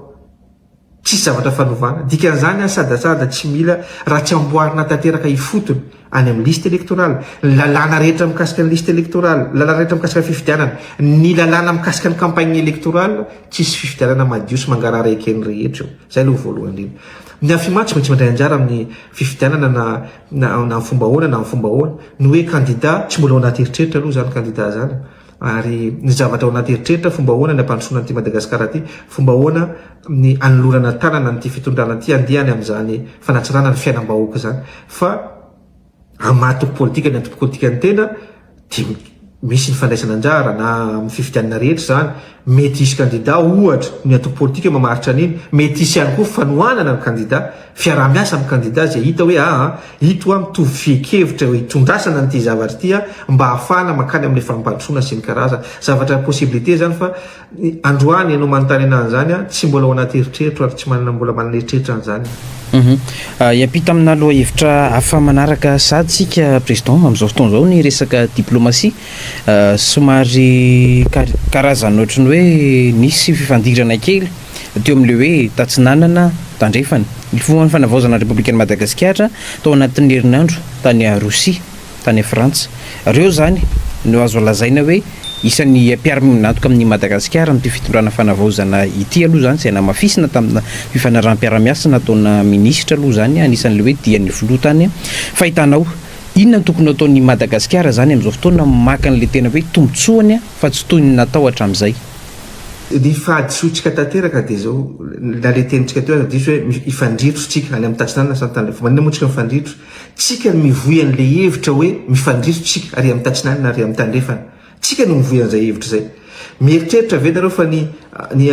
Tsisy zavatra fanovana. Dikan'izany an, sadasada tsy mila raha tsy amboarina tanteraka ifotony any amin'ny liste électorale, ny lalàna rehetra mikasika ny liste électorale, ny lalàna rehetra mikasika ny fifidianana, ny lalàna mikasika ny campagne électorale, tsisy fifidianana madio sy mangarahara eken'ny rehetra eo. Izay aloha voalohany indrindra. Ny Afimaha tsy maintsy mandray anjara amin'ny fifidianana na na amin'ny fomba ahoana na amin'ny fomba ahoana, ny hoe kandida tsy mbola ao anaty eritreritra aloha izany kandida izany ary ny zavatra ao anaty eritreritra fomba ahoana ny hampandrosoana an'ity Madagasikara ity, fomba ahoana ny hanolorana tanana an'ity fitondrana ity handeha any amin'izany fanatsarana ny fiainam-bahoaka izany fa hamaha antoko politika ny antoko politikan'ny tena. dia misy ny fandraisana anjara na amin'ny fifidianana rehetra izany, mety hisy kandida ohatra ny antoko politika mamaritra an'iny, mety hisy ihany koa fanohanana ny kandida, fiaraha-miasa amin'ny kandida izay hita hoe aa ito a mitovy fienkevitra eo itondrasana an'ity zavatra ity a mba hahafahana mankany amin'ilay fampandrosoana sy ny karazany zavatra possibilité izany fa Androany ianao manontany anahy an'izany aho, tsy mbola ao anaty eritreritro ary tsy manana mbola manana eritreritra an'izany aho. Hiampita amina lohahevitra hafa manaraka sahady isika Président, amin'izao fotoana izao ny resaka diplomatie, somary karazana ohatran'ny hoe nisy fifandirana kely teo amin'ilay hoe Tatsinanana, Tandrefana. Nifoha ny fanavaozana ny Repoblikan'i Madagasikara tao anatin'ny herinandro tany Rosia. tany Frantsa. Reo zany no azo lazaina hoe isan'ny mpiara-miombon'antoka amin'i Madagasikara amin'ity fitondrana fanavaozana ity aloha zany izay namafisina tamina fifanaraham-piarahamiasa nataona minisitra aloha zany anisan'le hoe dian'ny filoha tany fa hitanao inona no tokony hataon'i Madagasikara zany amin'izao fotoana maka an'le tena hoe tombotsoany fa tsy toy ny natao hatramin'izay. Ny fahadisoantsika tanteraka dia izao, na le tenintsika teo aza diso hoe hifandritro tsika any amin'ny tatsinanana sa tany le fo, maninona moa tsika mifandritro Tsika no mivoy an'ilay hevitra hoe mifandriso tsika, ary amin'ny tatsinanana ary amin'ny tandrefana. Tsika no mivoy an'izay hevitra izay. Mieritreritra ve nareo fa ny ny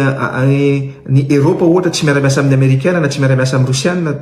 ny Eropa ohatra tsy miara-miasa amin'ny Amerikana na tsy miara-miasa amin'ny Rosiana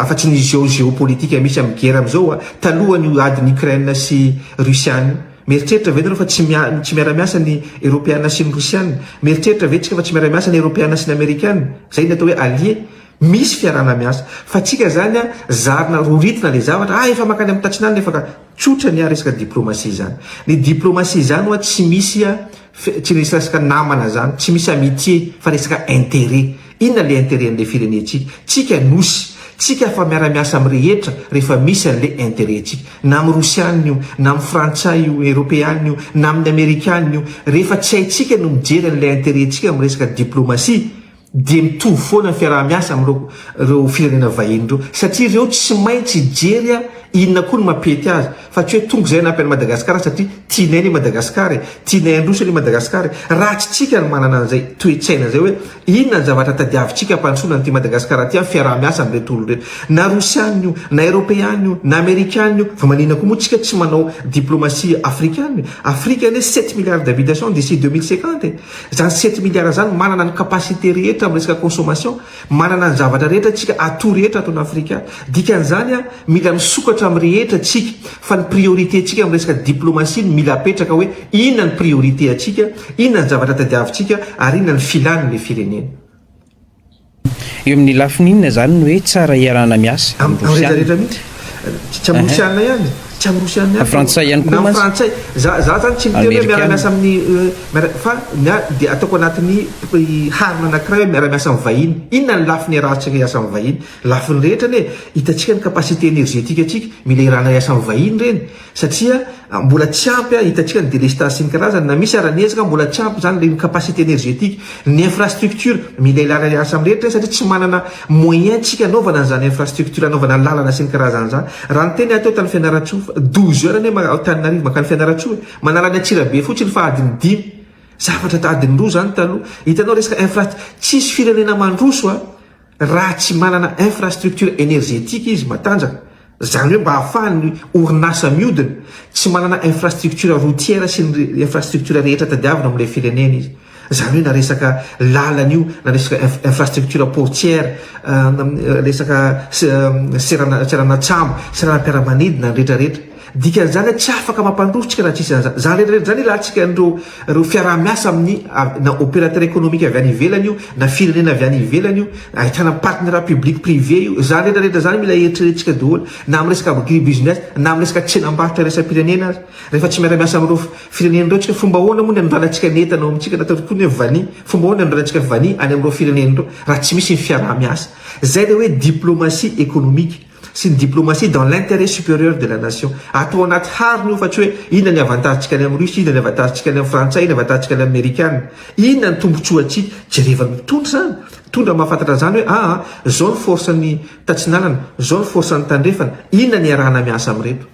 afa-tsy ny geo geopolitika misy amin'ny gera amin'izao a, talohan'io adin'i Ukraine sy Rosiana io. Mieritreritra ve nareo fa tsy mia tsy miara-miasa ny Eropeana sy ny Rosiana? Mieritreritra ve tsika fa tsy miara-miasa ny Eropeana sy ny Amerikana? Izay ny atao hoe alliés. Misy fiarahana miasa. Fa tsika izany an, zarina roritina ilay zavatra, ah efa mankany amin'ny tatsin'alina efa ka. Tsotra ny an resaka diplomasia izany. Ny diplomasia izany hoa tsy misy an, tsy misy resaka namana izany, tsy misy amitié fa resaka intérêt. Inona ilay intérêt an'ilay firenentsika? Tsika nosy, tsika afa miara miasa amin'ny rehetra rehefa misy an'ilay intérêt tsika. Na amin'ny rosianina io, na amin'ny frantsay io, eropeanina io, na amin'ny amerikanina io. Rehefa tsy haintsika no mijery an'ilay intérêt tsika amin'ny resaka diplomasia, dia mitovy foana ny fiaraha-miasa amin'ireo firenena vahiny ireo satria ireo tsy maintsy hijery inona koa no mampety azy fa tsy hoe tonga izay hanampy an'i Madagasikara satria tianay anie Madagasikara e, tianay handroso anie Madagasikara e. Raha tsy tsika no manana an'izay toe-tsaina izay hoe inona ny zavatra tadiavintsika hampandrosoana an'ity Madagasikara ity amin'ny fiaraha-miasa amin'ireto olona ireto na Rosiana io na Eropeana io na Amerikana io fa maninona koa moa tsika tsy manao diplomasia Afrikana e, Afrika anie sept milliards d'habitations d'ici deux mille cinquante e. Zany sept milliards zany manana ny capacité rehetra am resaka consommation, manana ny zavatra rehetra tsika, atout rehetra ato an Afrika, dikany zany a mila misokatra am rehetra tsika, fa ny priorité tsika am resaka diplomatie no mila apetraka hoe inona ny priorité atsika, inona ny zavatra tadiavitsika ary inona ny filan le firenena. Eo amin'ny lafiny inona izany no hoe tsara iarahana miasa? Amin'ny Rosiana. Tsy amin'ny Rosiana ihany, tsy amin'ny Rosiana ihany. Frantsay ihany koa mantsy. Na amin'ny Frantsay. Za, za zany tsy miteny hoe miara-miasa amin'ny, miara, fa ny ahy dia ataoko anatin'ny harona anankiray hoe miara-miasa amin'ny vahiny. Inona ny lafiny iarahantsika hiasa amin'ny vahiny? Lafiny rehetra anie e! Hitantsika ny capacité énergétique antsika, mila iarahana hiasa amin'ny vahiny ireny. Satria mbola tsy ampy hitantsika ny délestage sy ny karazany na misy ara ny ezaka mbola tsy ampy izany ny capacité énergétique, ny infrastructure mila ilana hiasa amin'ny rehetra satria tsy manana moyen tsika hanaovana an'izany infrastructure hanaovana lalana sy ny karazany izany. Raha ny teny ahy teo tany Fianarantsoa fa douze heures anie ma- Antananarivo mankany Fianarantsoa e! manala any Antsirabe fotsiny fa adiny dimy zavatra adiny roa izany taloha hitanao resaka infra tsisy firenena mandroso a! Raha tsy manana infrastructure energetique izy matanjaka, izany hoe mba ahafahan'ny orinasa miodina, tsy manana infrastructure routière sy ny infrastructure rehetra tadiavina amin'ilay firenena izy. Izany hoe na resaka lalana io, na resaka infrastructure portière, resaka seranatsambo, seranam-piaramanidina, ny rehetrarehetra. Dikan'izany hoe tsy afaka mampandroso tsika raha tsisy izany izany. Izany rehetra izany ilantsika an'ireo fiaraha-miasa amin'ny na opérateur économique avy any ivelany io na firenena avy any ivelany io, ahitana partenariat public privé io, izany rehetra rehetra izany mila eritreretintsika daholo na amin'ny resaka agribusiness na amin'ny resaka tsenam-barotra iraisam-pirenena aza. Rehefa tsy miara-miasa amin'ireo firenena ireo tsika, fomba ahoana moa ny anondranantsika ny entana ao amintsika na ataontsika koa ny hoe vanille, fomba ahoana ny anondranantsika vanille any amin'ireo firenena ireo raha tsy misy ny fiaraha-miasa. Izay ilay hoe diplomatie économique. sy ny diplomatie dans l'interet superieur de la nation atao anaty harona io fa tsy hoe inona ny avantagentsika any amin'ny russe, inona ny avantagentsika any amin'ny frantsay, inona ny avantagentsika any amin'ny amerikana, inona ny tombotsoantsika, jereva ny mpitondra izany, mpitondra mahafantatra an'izany hoe aa izao ny force an'ny tatsinanana, izao ny force an'ny tandrefana, inona ny iarahana miasa amin'ireto.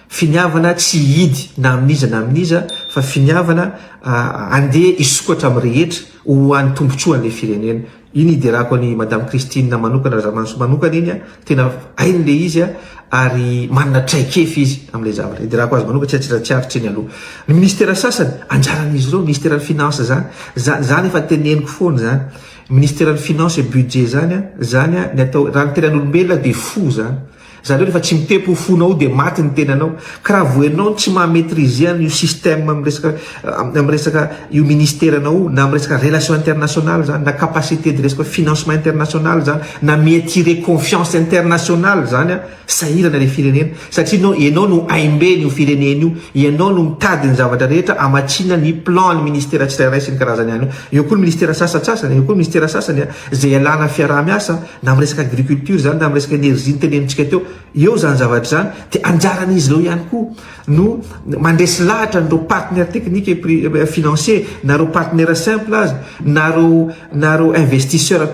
Finiavana tsy hihidy na amin'iza na amin'iza fa finiavana handeha hisokatra amin'ny rehetra ho an'ny tombotsoan'ilay firenena. Iny hiderako an'i Madame Christine manokana Razamantso manokana iny an! Tena hainy ilay izy an! Ary manana traikefa izy amin'ilay zavatra. Hiderako azy manokana tsy an-tsiratsiaritra iny aloha. Ny ministera sasany anjaran'izy ireo, ministeran'ny finances izany, izany izany efa teneniko foana izany. Ministeran'ny finances et budget izany an! Izany an! Ny atao, raha ny tenan'olombelona dia fo izany. Zany hoe rehefa tsy mitempo io fonao io dia maty ny tenanao. Ka raha vao ianao no tsy maha maitriser an io système amin'ny resaka amin'ny resaka io ministère nao io na amin'ny resaka relation internationale zany na capacité de resaka financement internationale zany na mi attirer confiance internationale zany an sahirana ilay firenena satria nao ianao no aimbeny io firenena io ianao no mitady ny zavatra rehetra amatsiana ny plan ny ministère tsirairay sy ny karazany any io eo koa ny ministère sasatsasany eo koa ny ministère sasany an Izay ialana fiaraha-miasa na amin'ny resaka agriculture izany na amin'ny resaka énergie notenenintsika teo eo izany zavatra izany dia anjaran'izy ireo ihany koa no mandresy lahatra an'ireo partenaires techniques et financiers na ireo partenaires simples aza na ireo na ireo investisseurs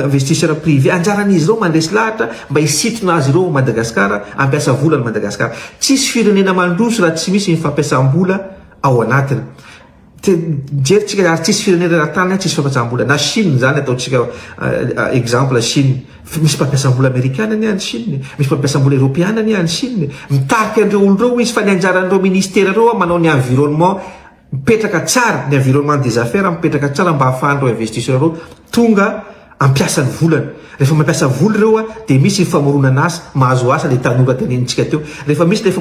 investisseurs privés anjaran'izy ireo mandresy lahatra mba hisintona azy ireo ao Madagasikara hampiasa vola ny Madagasikara. Tsisy firenena mandroso raha tsy misy ny fampiasam-bola ao anatiny. Mijery tsika ary tsisy firenena na tany tsisy fampajam-bola na chine zany atao tsika exemple chine misy mpampiasam-bola amerikana anie any chine misy mpampiasam-bola eropeana anie any chine mitarika an'ireo olo ireo izy fa ny anjaran'ireo ministera ireo an manao ny environnement mipetraka tsara ny environnement des affaires mipetraka tsara mba ahafahan'ireo investisseurs ireo tonga ampiasa ny volany rehefa mampiasa vola ireo a dia misy ny famoronana asa mahazo asa ilay tanora tenenintsika teo rehefa misy ilay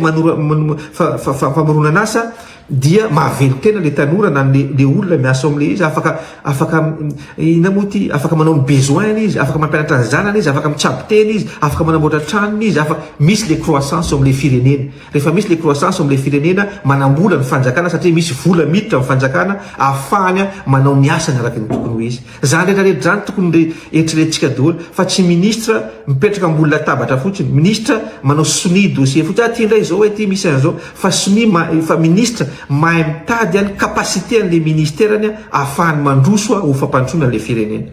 famoronana asa dia mahavelon-tena ilay tanora na ilay olona miasa ao amin'ilay izy afaka afaka inona moa ity afaka manao ny besoin-ny izy afaka mampianatra ny zanany izy afaka mitsabo tena izy afaka manamboatra tranony izy afaka misy ilay croissance ao amin'ilay firenena rehefa misy ilay croissance ao amin'ilay firenena manambola ny fanjakana satria misy vola miditra amin'ny fanjakana ahafahany manao ny asany araka ny tokony ho izy Zany rehetra rehetra zany tokony re eritreretintsika daholo fa tsy ministre mipetraka ambony latabatra fotsiny, ministre manao sonia dossier fotsiny, aty ndray zao ety misy anzao, fa sonia ma fa ministre mahay mitady an capacité anle ministerany an ahafahany mandroso an ho fampandrosoana anle firenena.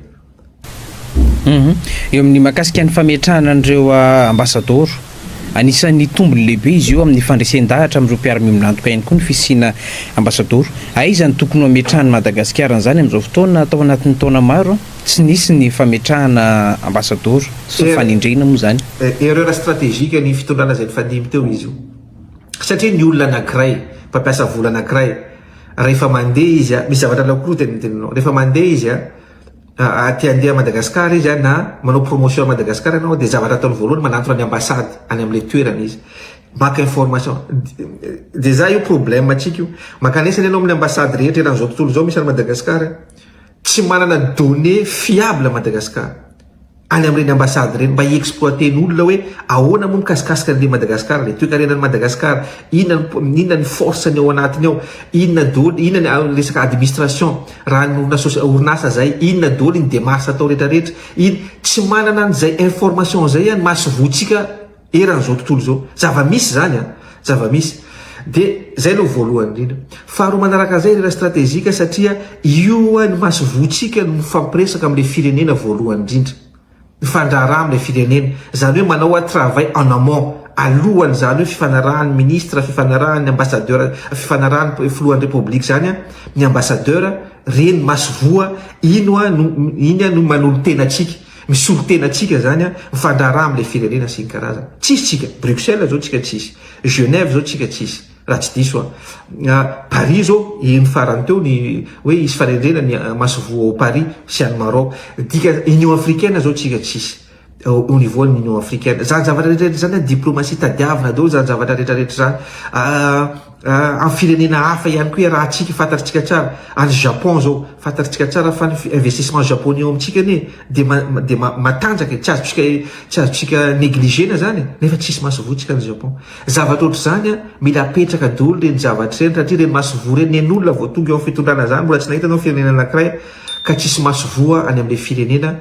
Eo amin'ny mahakasika ny fametrahana an'ireo ambasadaoro. Anisan'ny tombony lehibe izy io amin'ny fandresen-dahatra amin'ireo mpiara-miombon'antoka ihany koa ny fisiana Ambasadoro. Aiza no tokony ho ametrahan'i Madagasikara an'izany amin'izao fotoana? Tao anatin'ny taona maro, tsy nisy ny fametrahana Ambasadoro. Tsy ho fanendrena moa izany. Erreur stratégique ny fitondrana izay nifandimby teo izy io. Satria ny olona anankiray, mpampiasa vola anankiray, rehefa mandeha izy, misy zavatra alao koa aloha teny amin'ny teninao. Rehefa mandeha izy, Aa te handeha à Madagascar izy an na manao promotion à Madagascar ianao dia zavatra ataony voalohany manantona ny ambassade any amin'ilay toerana izy maka information dia za io problème antsika io mankanesa anie ianao amin'ny ambassade rehetra eran'izao tontolo izao misy any Madagascar tsy manana données fiables Madagascar any amin'ireny ambassade ireny mba hi-exploiter ny olona hoe ahoana moa mikasikasika an'ilay Madagascar ilay toekarenan'i Madagascar, inona ny inona ny force-ny ao anatiny ao, inona doly inona ny resaka administration raha ny orinasa orinasa zay, inona doly ny demarche atao retraretra, iny tsy manana an'izay information zay an masovotsika. eran'izao tontolo izao. Zava-misy izany an! Zava-misy. Dia izay aloha voalohany indrindra. Faharoa manaraka an'izay ry Rastratejika satria io ho'a ny masoivohontsika no mifampiresaka amin'ilay firenena voalohany indrindra. Mifandraharaha amin'ilay firenena. Izany hoe manao ho'a travail en amont, alohan'izany hoe fifanarahan'ny ministra, fifanarahan'ny ambassadeur, fifanarahan'ny filohan'ny Repoblika izany an, ny ambassadeur, ireny masoivoho, iny ho'a no, iny no manolo-tena antsika. Misolo tena tsika zany mifandraharaha amle firenena sy ny karazany. Tsisy tsika. Bruxelles zao tsika tsisy. Genève zao tsika tsisy. Raha tsy diso aho. Paris zao heno farany teo ny hoe hisy fanendrena ny masoivoho ao Paris sy any Maroc. Dika union africaine zao tsika tsisy. Au niveau an'ny union africaine. Zany zavatra rehetra rehetra zany diplomatie tadiavina daholo zany zavatra rehetra rehetra zany. Amin'ny firenena hafa ihany koa iaraha tsika fantatritsika tsara any Japon zao fantatritsika tsara fa ny investissement Japonais ao amintsika anie dia dia matanjaka e! tsy azotsika tsy azotsika negligena zany e! nefa tsisy masovoantsika any Japon zavatra ohatr'izany an! mila apetraka doly reny zavatra reny satria reny masovoa reny nen'olona vao tonga eo amin'ny fitondrana zany mbola tsy nahita anao firenena anakiray ka tsisy masovoa any amin'ilay firenena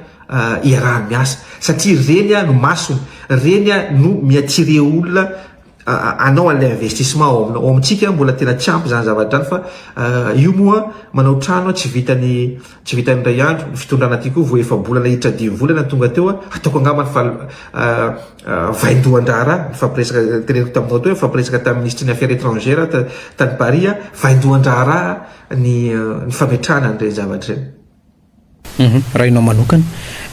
iaraha miasa satria reny an! no masony reny an! no mi-attirer olona anao an'ilay investissement ao aminao. Ao amintsika mbola tena tsy ampy izany zavatra izany fa euh, io moa manao trano tsy vitany tsy vitany iray andro ny fitondrana aty koa vao efa bolana hiditra dimy volana tonga teo a ataoko angambany fa euh, euh, vaindohan-draharaha nifampiresaka teneniko taminao teo nifampiresaka tamin'ny ministry ny affaires étrangères tany Paris a vaindohan-draharaha ny ny fametrahana an'ireny zavatra ireny. Raha ianao manokana.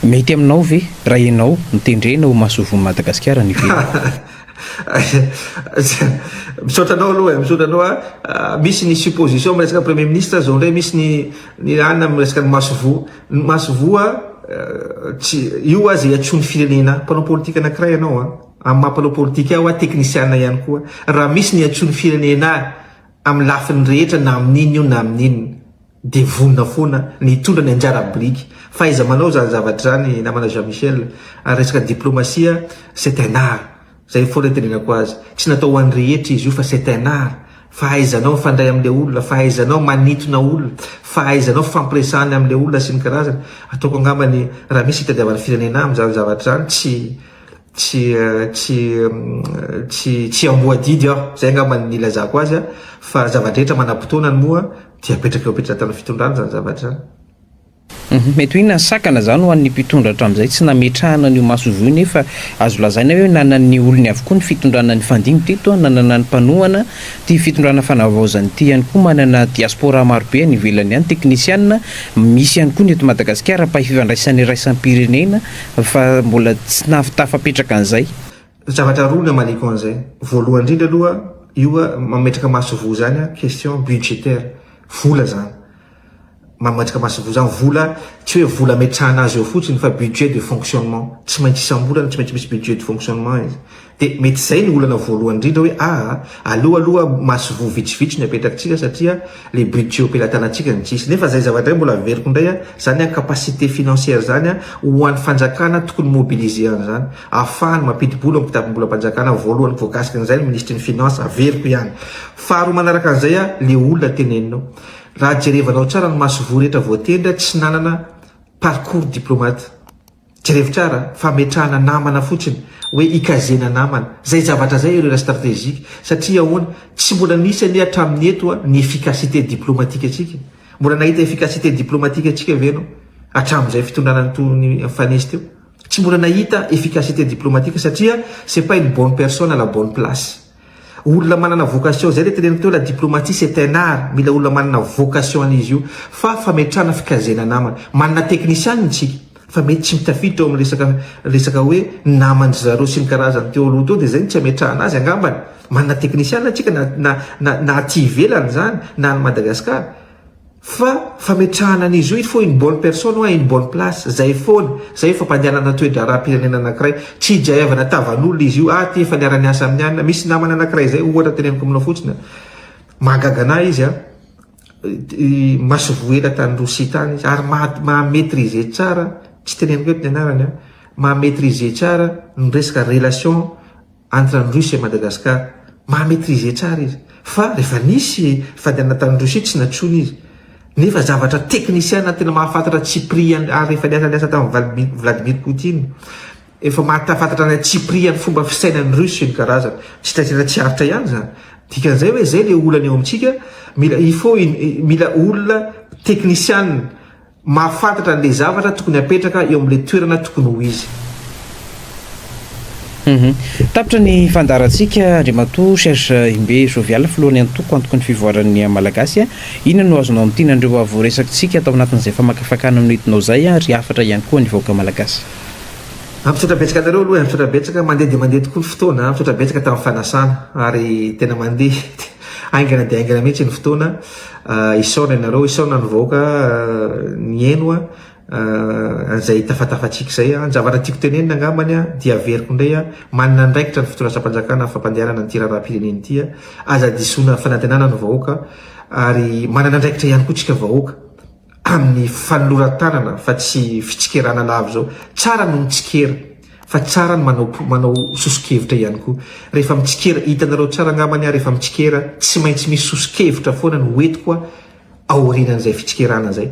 Mety aminao ve raha ianao no tendrena ho Masoivohon'i Madagasikara any ivelany? Misaotra anao aloha e, misaotra anao an, misy ny supposition amin'ny resaka premier ministre zao indray misy ny ny an amin'ny resaka ny masoivoho, ny masoivoho an tsy io aza iantsoan'ny firenena, mpanao politika anakiray ianao an, amin'ny maha mpanao politika ahy hoa teknisiana ihany koa, raha misy ny iantsoan'ny firenena ahy amin'ny lafiny rehetra na amin'inona io na amin'inona, Dia vonona foana ny hitondra ny anjara biriky. Fahaiza manao izany zavatra izany namana Jean Michel. Ary resaka diplomasia, c'est un art. Zay foana itenenako azy. Tsy natao ho an'ny rehetra izy io fa c'est un art. Fahaizanao mifandray amin'ilay olona, fahaizanao manintona olona, fahaizanao fampiresahana amin'ilay olona sy ny karazany. Ataoko angamba ny raha misy itadiavany firenena aminy izany zavatra izany, tsy. tsy tsy tsy tsy amboadidy aho zay angamba ny nilazako azy a fa zava-drehetra manam-potoanany moa dia apetraka eo am-petratan'ny fitondrana izany zavatra izany. Mety ho inona ny sakana izany ho an'ny mpitondra hatramin'izay tsy nametrahana an'io masoivoho io nefa azo lazaina hoe nanan'ny olony avokoa ny fitondrana nifandimby teto a, nanana ny mpanohana, ity fitondrana fanavaozana ity ihany koa manana diaspora marobe any ivelany any, teknisiana, misy ihany koa ny eto Madagasikara, mpahay fifandraisana iraisam-pirenena, fa mbola tsy nahaftafapetraka an'izay. Zavatra roa ny amaliako an'izay, voalohany indrindra aloha io mametraka masoivoho izany question budgétaire, vola izany, mametraka masoivoho izany, vola tsy hoe vola ametrahana azy eo fotsiny fa budget de fonctionnement, tsy maintsy isam-bolana tsy maintsy misy budget de fonctionnement izy. Dia mety izay no olana voalohany indrindra hoe a aleo aloha masoivoho vitsivitsy no apetrakintsika satria le budget ampelatanantsika no tsy hisy. Nefa izay zavatra izay mbola averiko indray a, izany a capacité financière izany a ho an'ny fanjakana tokony mobiliser an'izany ahafahany mampidi-bola ao ampitapom-bolam-panjakana voalohany voakasika an'izay ny ministry ny finances averiko ihany. Faharoa manaraka an'izay a le olona teneninao raha jerevanao tsara ny masoivoho rehetra voatendry a tsy nanana parcours diplomate. Jerevtrara fametrahana namana fotsiny hoe hikazena namana zay javatra zay erreur strategique satria ahoana tsy mbola nisy anie hatramin'ny eto ny efficacité diplomatique antsika mbola nahita efficacité diplomatique antsika ve enao hatramin'izay fitondrana nitony Fanese teo tsy mbola nahita efficacité diplomatique satria c'est pas une bonne personne à la bonne place Olona manana vocation zay le teneniko teo la diplomatie c'est un art mila olona manana vocation an'izy io fa fametrahana fikazena namana manana technician ny tsika fa mety tsy mitafiditra ao amin'ny resaka resaka hoe naman-dry zareo sy ny karazany teo aloha teo dia zay no tsy ametrahana azy angambany manana technician ny tsika na na na aty ivelany zany na any Madagascar Fa fametrahana an'izy io faut une bonne personne ou à une bonne place, izay foana, izay io fampandehanana toe-draharaham-pirenena anankiray, tsy hijaevana tavan'olona izy io, ahy aty efa niara-niasa amin'ny anona, misy namana anankiray izay, ohatra teneniko aminao fotsiny an, mahagaga anah izy an, masoivoho ela tany Rosia tany izy, ary maha maitriser tsara, tsy teneniko eto ny anarany an, maha maitriser tsara ny resaka relation, entre an'i Russie et Madagascar maha maitriser tsara izy fa rehefa nisy fadianana tany Russie tsy natsoina izy nefa zavatra technician tena mahafantatra tsy prix ary efa niasa niasa tamin'i Vladimir Poutine efa mahatafantatra ny atsiprihan'ny fomba fisainan'ny Russie ny karazany tsy taitra tsy aritra ihany zany dikan'izay hoe zay le olana eo amintsika mila il faut mila olona technician mahafantatra an'ilay zavatra tokony hapetraka eo amin'ilay toerana tokony ho izy. Tapitra ny fandaharantsika, Andriamatoa Serge Imbe Jovial, Filohan'ny Antoko, Antokon'ny Fivoaran'ny Malagasy. Inona no azonao amin'ity nandreo voaresakitsika tao anatin'izay famakafakana nonidinao izay ary hafatra ihany koa ny vahoaka Malagasy? Misaotra betsaka anareo aloha e, misaotra betsaka. Mandeha dia mandeha tokoa ny fotoana, misaotra betsaka tamin'ny fanasana ary tena mandeha haingana dia haingana mihitsy ny fotoana. Ah, isaona ianareo, isaona ny vahoaka nihaino ah, an'izay tafatafatsika izay. Ah. Ny zavatra tiako tenenina angambany ah, dia averiko indray ah, manana andraikitra ny fitondrasam-panjakana amin'ny fampandehanana ity raharaham-pirenena ity. Ah. Aza disoina fanantenana ny vahoaka, ary manana andraikitra ihany koa tsika vahoaka. amin'ny fanoroan-tanana fa tsy fitsikerana lava izao. Tsara ny mitsikera fa tsara ny manao manao soso-kevitra ihany koa. Rehefa mitsikera, hitanareo tsara angamba ny ahy rehefa mitsikera, tsy maintsy misy soso-kevitra foana no entiko aorianan'izay fitsikerana izay.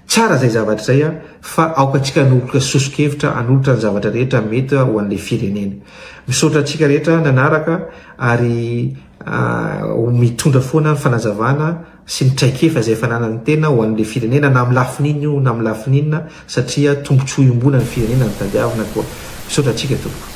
Tsara izay zavatra izay fa aoka antsika hanolotra soso-kevitra, hanolotra ny zavatra rehetra mety ho an'ilay firenena. Misaotra antsika rehetra nanaraka ary ho mitondra foana ny fanazavana sy ny traikefa izay fananany tena ho an'ilay firenena na amin'ny lafiny inona io na amin'ny lafiny inona satria tombontsoa iombonan'ny firenena no tadiavina koa. Misaotra antsika tompoko.